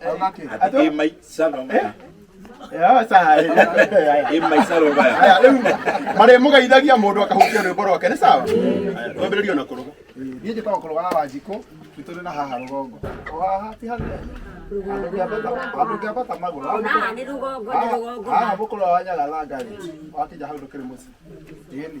Athaki. Ati ĩ mai cano maya. Ya, sawa. Ĩ mai cano maya. Haya, rĩu marĩ mũgeithagia mũndũ akahutia rwĩmbo rwake nĩ sawa twambĩrĩrie na kũrũga niĩ njĩtagwo kũrũga wa njikũ nĩ tũrĩ na haha rũgongo o haha ti hanene Andũ ngĩambata- andũ ngĩambata magũrũ haha Ona nĩ rũgongo nĩ rũgongo. haha mũkũrũ wa nyagathanga rĩ wakĩnja hau ndũkĩrĩ mũciĩ ĩni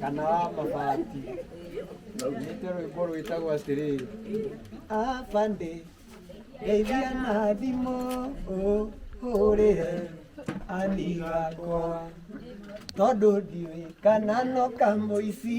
kana wa mabati nĩte rwĩmbo rwĩtagwo atĩrĩrĩ abande ndeithia na thimũ ũhũrĩre ani gakwa tondũ ndiũĩ kana no kamũici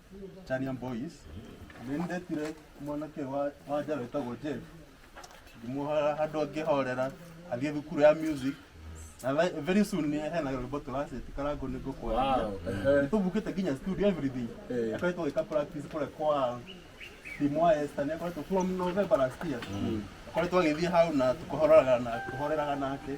Charian Boys nindetire mwanake wa wa njara wĩtagwo Jeff ngĩmuohora handũ angĩhorera athiĩ thukuru ya music na ve- very soon nĩ hena rwĩmbo tũracĩti karango nĩ ngũkwarĩria Wow, ehe. nĩtũbukĩte nginya studio everything Eh. akoretwo gĩka practice kũrĩa kwa timu wa Esther nĩ akoretwo from November last year akoretwo agĩthiĩ hau na tũkahoreraga na tũhoreraga nake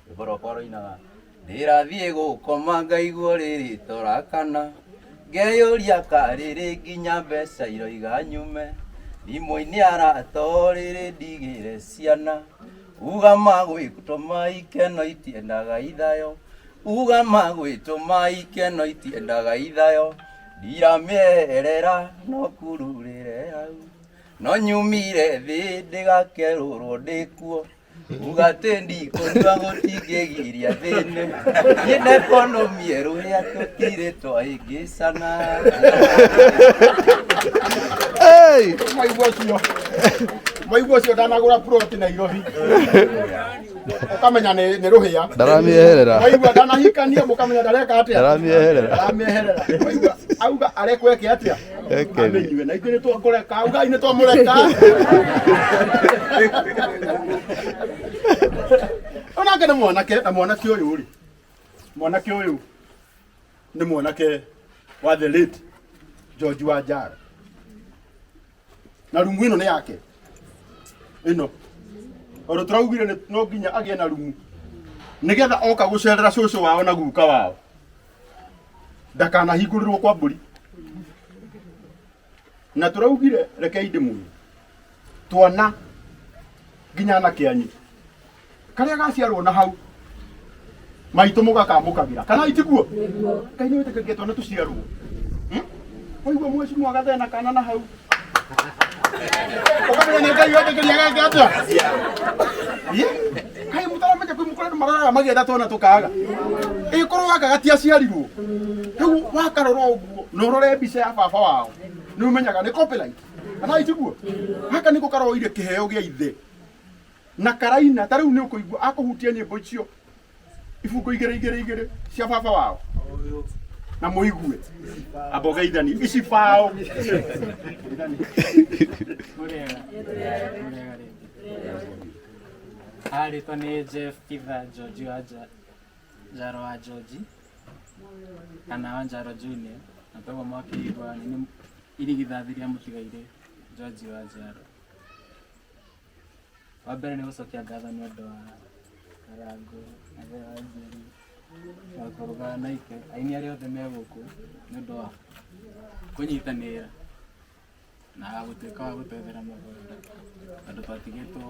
Ngorokwa roinaga ndĩrathiĩ gũkoma ngaigua rĩrĩto rakana ngeyũria ka rĩrĩ nginya mbeca iroiga nyume thimũ-inĩ arato rĩrĩ ndigĩre ciana uga magwĩtũma ikeno itiendaga ithayo uga magwĩtũma ikeno itiendaga ithayo ndiramĩeherera no kururĩre hau no nyumire thĩ ndĩgakerũrwo ndĩkuo ugatendi kũnyua gũtingĩgiria thĩinĩ niĩ na ekonomi erũhĩa tũtirĩ twaingĩcana Hey! maigua ũcio maigua ũcio ndanagũra ploti nairobi ũkamenya nĩ nĩ rũhĩa Ndaramĩeherera. maigua ndanahikania mũkamenya ndareka atĩa Ndaramĩeherera. ndaramĩeherera maigua auga arekweke atĩa Ekeri. Inyuĩ na ithuĩ nĩ twakũreka, ugai nĩ twamũreka. Onake nĩ mwanake, na mwanake ũyũ rĩ, mwanake ũyũ nĩ mwanake wa the late George wa Njara. Na rumu ĩno nĩ yake ĩno tondå tå raugire nĩ- no nginya agä na rumu nä getha oka gå cerera cåcå wao na guka wao ndakanahingũrĩrwo kwa mbũri na tũraugire rekei ndĩmuoye twana nginya na kĩanyu karĩa gaciarwo na hau maitũ mũgakamũkagĩra kana itiguo ngai nĩ wĩtĩkĩrĩke twana tũciarwo Hmm? waigua mweci mwagathena kana na hau kai mutaramenya kwi mukorera marara magenda tona tukaga ikorwo gaka gatiaciarirwo riu wakarora uguo na urore mbica ya baba wao ni umenyaga ni copyright kana itiguo gaka niko karoire kiheo gia ithe na karaina ta riu ni ukuigua akuhutia nyimbo icio ibungo igä rä igä rä igä rä cia baba wao na må igue amba å geithani ici bao arĩtwa nĩ jeff kitha george wa Ja- njaro wa george kana wa njaro junior na toguo mwakĩigua nĩ irigithathi rĩa mũtigairĩ george wa njaro Wa mbere nĩ gũcokia ngatho nĩ ũndũ wa Karangũ, Athee wa Njeri, na Kũrũga na Ike, aini arĩa othe me gũkũ nĩ ũndũ wa kũnyitanĩra na gũtuĩka wa gũtwethera mũgũnda tondũ twatigĩtwo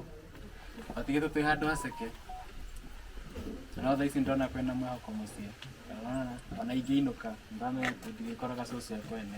twatigĩtwo twĩ handũ haceke na no thaa ici ndĩrona kwĩna mwĩhoko mũciĩ Ndĩrona ona ingĩinũka nĩndĩramenya atĩ ndĩrĩkoraga cũcũ e kwene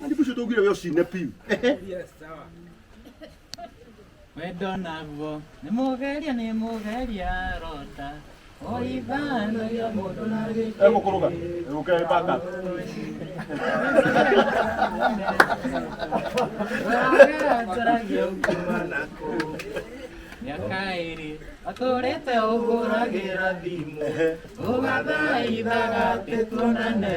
Nani busho tugire yo shine piu. Wendo naguo nĩ mũgeria nĩ mũgeria rota ũithanagia mũndũ na gĩkĩ Ego kuruga. Ego ke baka. ũragataragia ũkiuma nakũ mĩaka ĩrĩ atũrĩte ũhũragĩra thimũ ũgathaithaga atĩ tuonane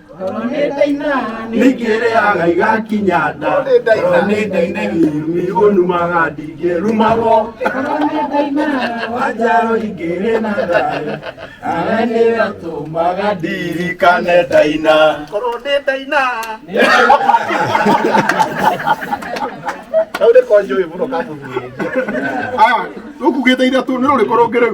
ningĩrĩaga igakinya nda korwo nĩ ndaine irumi ũnumaga ndingĩrumagwo wanjaro ingĩrĩ na thayũ awe nĩratũmaga ndirikane ndaina korwo nĩ ndaina kau nĩko njũĩ mũno kabuthuri aya rũkugĩte ithatũ nĩ rũrĩkũ rũngĩ rĩu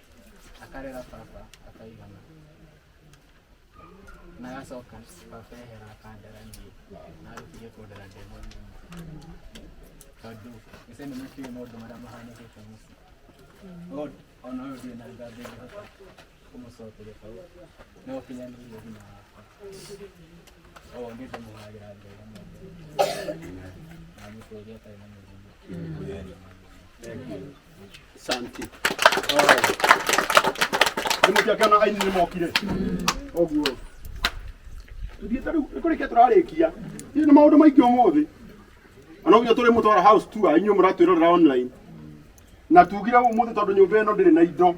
akarera baba akaigana na agacoka baba ehera akandera niĩ na arutire kũndera ndĩ mũnini tondũ mbica ĩno nĩkĩũĩ maũndũ marĩa mahanĩkĩte mũciĩ no ona ũyũ ndirĩ na ngambe ngĩhota kũmũcokeria tondũ no ũkinyanĩirie thina wakwa oo nĩ ndĩmũhagĩra mbere na mũtũria atarĩ na mũrimũ Asante. Nĩ mũkĩakana aini nĩ mokire. Ũguo. Tũthiĩte rĩu nĩ kũrĩkia tũrarĩkia. Hihi nĩ maũndũ maingĩ ũmũthĩ. Ona ũguo tũrĩ mũtwara house tour inyuĩ mũratwĩrorera online. Na tugire ũmũthĩ tondũ nyũmba ĩno ndĩrĩ na indo.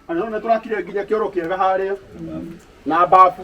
Na nĩ tũrakire nginya kĩoro kĩega harĩa na mbabu.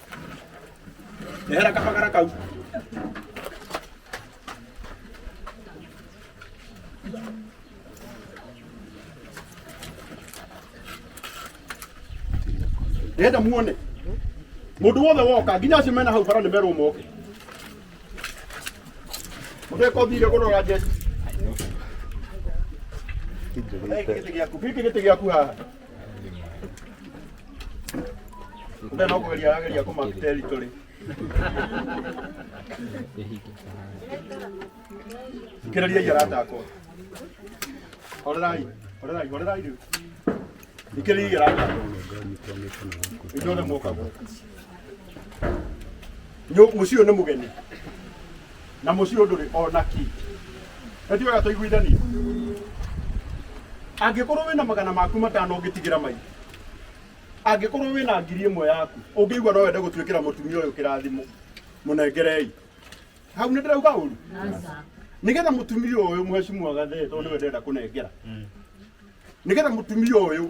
Ndehera kabagara kau. Ndĩrenda muone mũndũ wothe woka nginya acio mena hau bara nĩ merwo moke mũndũ eka ũthire kũrora njeci gĩkĩ gĩtĩ gĩaku haha Ndio no kugeria arageria kuma territory. Kĩrĩria yarata akwa. Horerai, horerai, horerai rĩu. Ikĩrĩria yarata akwa. Inyuothe mũka gũkũ. Nyũ- Mũciĩ ũyũ nĩ mũgeni. na mũciĩ ndũrĩ o na kĩ na tiwega tũiguithanie angĩkorwo wĩna magana maku matano ũngĩtigĩra maingĩ angĩkorwo wĩna ngiri ĩmwe yaku ũngĩigua no wende gũtuĩkĩra mũtumia ũyũ kĩrathimo mũnengerei hau nĩ ndĩrauga ũru nĩgetha mũtumia ũyũ mũhecimu agathe tondũ nĩwe ndĩrenda kũnengera nĩgetha mũtumia ũyũ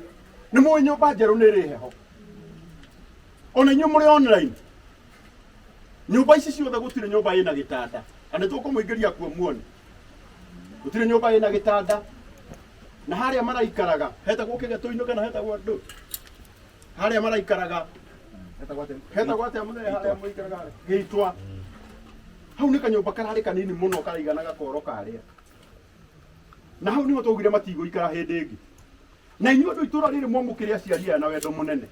nĩ mũĩ nyũmba njerũ nĩ ĩrĩ heho ona inyuĩ mũrĩ online nyũmba ici ciothe gũtirĩ nyũmba ĩna gĩtanda na nĩ tũkũmũingĩria kuo muone gũtirĩ nyũmba ĩna gĩtanda na harĩa maraikaraga hetagwo kĩgetũ-inĩ kana hetagwo ndũ harĩa maraikaraga hetagwo atĩa mũthee harĩa mũikaraga harĩa? gĩitwa hau nĩ kanyũmba kararĩ kanini mũno karaigana gakoro karĩa na hau nĩho twaugire matigũikara hĩndĩ ĩngĩ na inyuĩ andũ itũra rĩrĩ mwamũkĩre aciari aya na wendo mũnene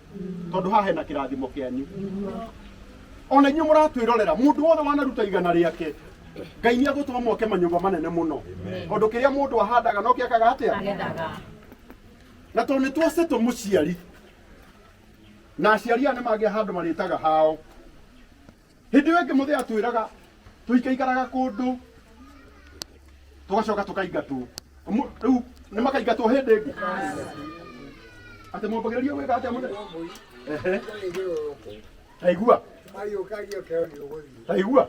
tondũ haha hena kĩrathimo kĩanyu ona inyuĩ mũratwĩrorera mũndũ wothe wanaruta igana rĩake ngai nĩ agũtũma mwake manyũmba manene mũno tondũ kĩrĩa mũndũ ahandaga no kĩakaga atĩa agethaga na tondũ nĩ twacetwo mũciari na aciari aya nĩ mangĩa handũ marĩtaga hao Hĩndĩ ĩyo ĩngĩ mũthĩ atwĩraga tũikaikaraga kũndũ tũgacoka tũkaingatwo. Ũmũ- Rĩu nĩ makaingatwo hĩndĩ ĩngĩ atĩ mwambagĩrĩria gwĩka atĩa mũthĩ? Ehe, taigua, taigua,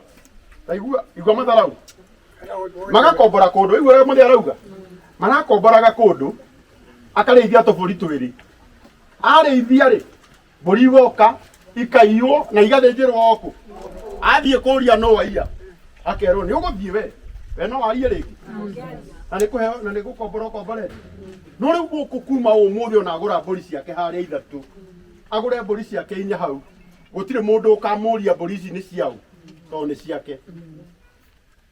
taigua, igua matharau. Magakombora kũndũ, rĩu ũrĩa mũthĩ arauga, marakomboraga kũndũ, akarĩithia tũbũri twĩrĩ. Arĩithia-rĩ, mbũri igoka ikaiywo na igathĩnjĩrwo kũ athiĩ kũria no waiya akerwo nĩ ũgũthiĩ we we no waiye rĩngĩ na nĩ kũheo na nĩ gũkombora ũkomborete no rĩu gũkũ kuma ũmũthĩ ona agũra mbũri ciake harĩa ithatũ agũre mbũri ciake inya hau gũtirĩ mũndũ ũkamũria mbũri ici nĩ ciaũ tondũ nĩ ciake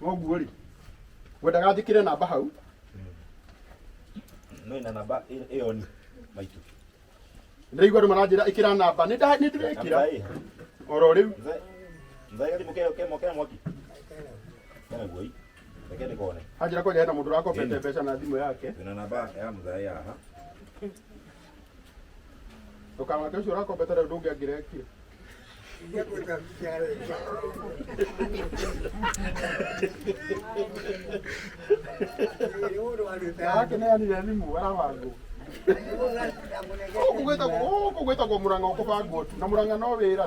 Koguo rĩ, ngwendaga njĩkĩre namba hau. No ina namba ĩ- ĩyo ni maitũ. Ndĩraigua andũ maranjĩra ĩkĩra namba. Nĩ nda- nĩ ndĩrekĩra Namba ĩ. oro rĩu. Mzee- mzee gathimũ ke- ke- ke mwaki. Kena guoi. Reke ndĩkone. Anjĩra kwanja hena mũndũ ũrakobete mbeca na thimũ yake. Wĩna namba ya mzee haha. ndũkamake ũcio ũrakombete rĩu ndũngĩangĩrekire yake nĩ anire thimũ arabangwo gũkũ gwĩtagwo gũkũ gwĩtagwo mũrang'a ũkũbangwo tu na mũrang'a no wĩra